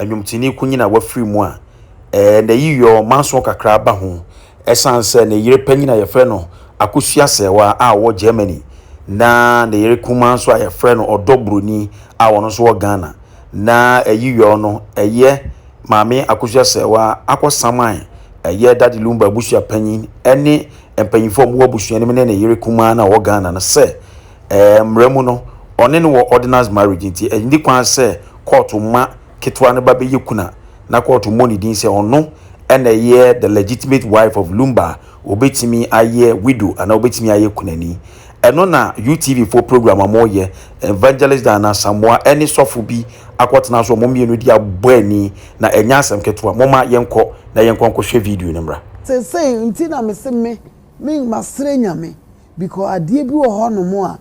nnwomtoni kunyin a wafiri mu a n'ayiyɔ manso kakra ba ho ɛsan sɛ ne yere panyin a yɛfrɛ no Akosua Sɛɛwa a ɔwɔ Germany na ne yere kumaa nso a yɛfrɛ no Ɔdɔ Buroni a ɔno nso wɔ Ghana na ayiyɔ no ɛyɛ Maame Akosua Sɛɛwa akɔsaman ɛyɛ Daddy Lumba abusua panyin ɛne mpanyinfoɔ a wɔwɔ abusua no mu ne ne yere kumaa no a ɔwɔ Ghana no sɛ Ɛɛ, mmara mu no, ɔne no wɔ ordinance marriage, enti enni kwan sɛ kɔɔto mma ketewa no ba bɛyɛ kunu a na kɔɔto mmɔ ne din sɛ ɔno na ɛyɛ the legitimate wife of Lumba a obetumi ayɛ widow anaa obetumi ayɛ kunani. Ɛno na UTVfoɔ program a wɔreyɛ, Evangelist Dan Asamoah ne sɔfo bi akɔtena so a wɔn mmienu de abɔ ani, na ɛnyɛ asɛm ketewa. Momma yɛnkɔ na yɛnkɔ nkɔhwɛ video no mmra. Seesei nti na mese me, me, masrɛ Nyame Because adeɛ bi wɔ hɔ nom a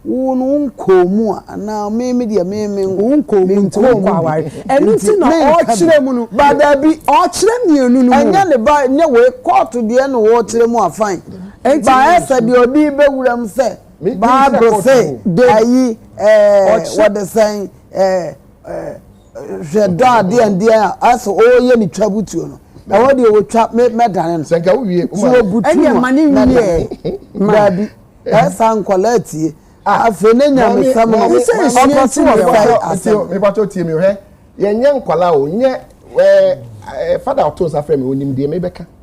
wo no wo nkɔɔ mu a anaa me me deɛ me me wo nkɔɔ mu nti wo nkɔ aware ɛno nti na ɔkyerɛ mu no ba daabi ɔkyerɛ mmienu no mu ɛnyɛ ne ba nyɛ wei kɔɔto deɛ na ɔkyerɛ mu a fine ba ɛsɛ deɛ ɔde bɛ wura mu sɛ bible sɛ ayi ɛɛ wɔde sɛn ɛɛ ɛɛ. hwɛ dɔ a deɛn deɛn a asɛ ɔreyɛ ne twa butuo no ɛhɔ deɛ wɔtwa mɛdane no sɛ nka wowie so wɔbutu no ma ne wie baabi ɛsa nkɔla atie afei ne nyame sɛm no ɔkɔ so wɔ fɛe asɛm mebatɔ tie me hwɛ yɛnyɛ nkɔla o nyɛ fada ɔto nsa frɛ me onim deɛ mebɛka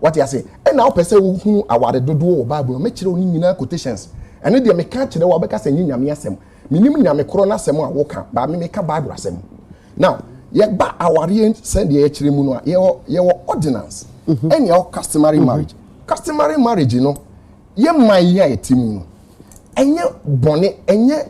Wate ase? Ɛna wopɛ sɛ wohunu aware dodoɔ wɔ Bible no. Mɛkyerɛ wo ne nyinaa quotations. Ɛno deɛ meka akyerɛ wo a wobɛka sɛ ɛnyɛ Nyame asɛm. Menim Nyame korɔ no asɛm a woka, but me meka Bible asɛm. Now, yɛba awareɛ sɛdeɛ yɛkyerɛ mu no a, yɛwɔ, yɛwɔ ordinance, mhm. ɛne ɛwɔ customary mhm. marriage. Customary marriage no, yɛ man yi a yɛte mu no, ɛnyɛ bɔne, ɛnyɛ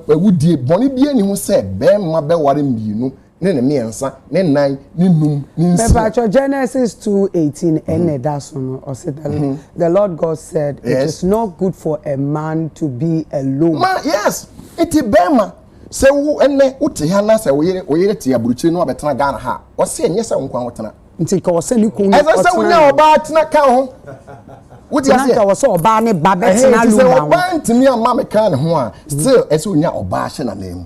awudie, bɔne bi ani ho sɛ bɛrima bɛware mmienu ne ne mmiɛnsa ne nnan ne num ne nsia. Mepatwɔ Genesis two eighteen ɛna ɛda so no ɔse the the Lord God said it is not good for a man to be alone. Ma yes nti bɛɛma sɛ wo ɛnɛ wo te ha na sɛ wo yere wo yere te aburukyire na wabɛtena Ghana ha ɔse ɛnyɛ sɛ wo nko a wo tena. Nti nka ɔsɛ ne kun ɔtena. Ɛsɛ sɛ wo nya ɔbaa tena ka ho. Wo ti aseɛ. Nka ɔsɛ ɔbaa ne ba bɛtena lumba ho. Ɛhɛn ti sɛ ɔbaa ntumi ama me kan ne ho a still ɛsɛ onya ɔbaa hyɛ na nan mu.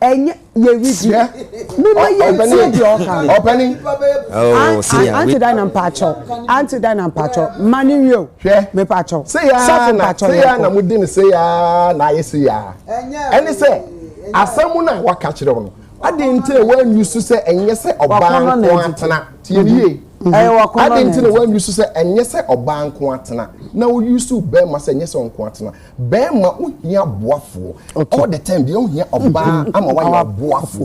ɛnyɛ yɛredi mema yɛntie deɛ ɔka no ɔpɛni ante dan na mpakyɛw ante dan na mpakyɛw ma ne wie o mepakyɛw sɔfo mpakyɛw yɛkɔ na modi ne se yaa na ayɛ se yaa ɛne sɛ asɛm mu no a waka kyerɛ wo no adɛn nti na woanwi so sɛ ɛnyɛ sɛ ɔbaa nko atena tie ne yie adɛn nti na woanwi so sɛ ɛnyɛ sɛ ɔbaa nko atena na woyi so bɛrima sɛ ɛnyɛ sɛ ɔnko atena Bɛɛma ohia ɔboafoɔ all the time deɛ ohia ɔbaa ama wayɛ ɔboafoɔ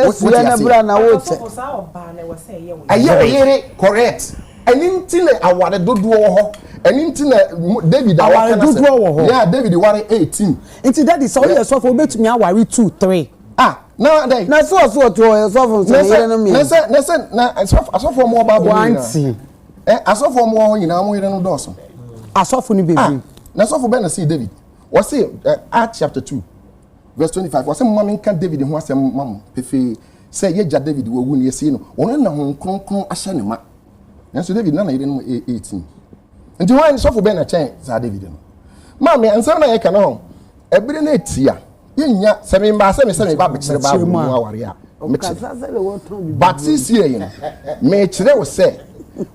wote aseɛ. Ɛyɛ wo yere correct ɛno nti na aware dodoɔ wɔ hɔ ɛno nti na David a wɔka na sɛ yeah David ware eighteen. Nti daddy sɛ woyɛ sɔfo wobɛtumi aware two three. Ah na dɛn. Na so ɔso ɔte ɔyɛ sɔfo nso ne yere no mmiɛnsa. Na sɛ na sɛ na asɔfo asɔfo ɔmo wɔ bible mu nyinaa. Ɛ asɔfo wɔn wɔ hɔ nyinaa wɔn yere no dɔɔso. Asɔfo no bebree. Ah, na asɔfo bɛn na see David? Wɔse uh, Act chapter two verse twenty five wɔse mma menka David ho asɛm ma mo pefee sɛ yɛgya David wɔ wu no yɛsie no wɔn na ho kronkron ahyɛ ne ma. Nanso David na na yere no yɛ eighteen. Nti wɔn sɔfo bɛn na kyɛn saa David no? Maame ansɛm na yɛka no ho ɛbere no etia. Yɛnnya, sɛ me mmaa sɛ me sɛ me ba bɛkyerɛ Bible mu aware a, mekyerɛ. But seesei no, mekyerɛ wo sɛ,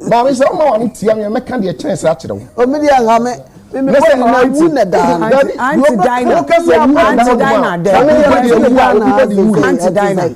Maame sɛ woma w'ano tia me a, mɛka deɛ ɛkyɛn saa akyerɛ wo. Ɔmo deɛ nka me. Na sɛ nna awu na daa no. Dabi, deɛ ɔbɛka sɛ awu na daa no a, saa nnipa deɛ awu a, obi bɛ de wuo.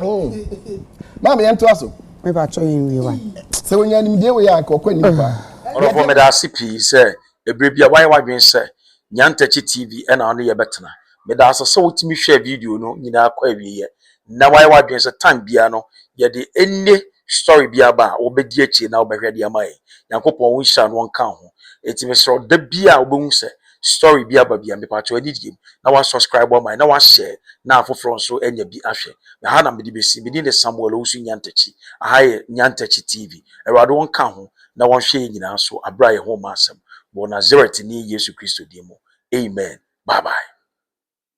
Oh. Maame yɛn to aso. Mɛ ba atwa yɛn wie wa. Sɛ wɔn yɛn nimdeɛ wɔ yɛ anka ɔkɔ anim paa. Ɔrɔfo meda ase pii sɛ ebere bi a wayɛ wadwene sɛ Nyantakyi TV ɛna ɔne yɛ bɛtena. Meda ase sɛ wotumi hwɛ video no nyinaa kɔ awieɛ na wayɛ wadwene sɛ time biara no yɛde any story bi aba a wobɛdi akyire na wobɛhwɛ de ama yɛn. Nyankopɔn wo nhyira no ɔnka ho. Eti mesrɛ da bi a wobɛhu sɛ story bi aba bia mepa kyɛw anigye mu na wa subscribe ama yɛn na wa share na afoforɔ nso anya bi ahwɛ ɛha na mede bɛsi me din de Samuel Owusu Nyantakyi aha yɛ Nyantakyi TV awurade wɔn ka ho na wɔn hwɛ yɛn nyinaa so abira yɛn ho ma asɛm wɔ Nazareth ni Yesu Kristo din mu amen bye bye.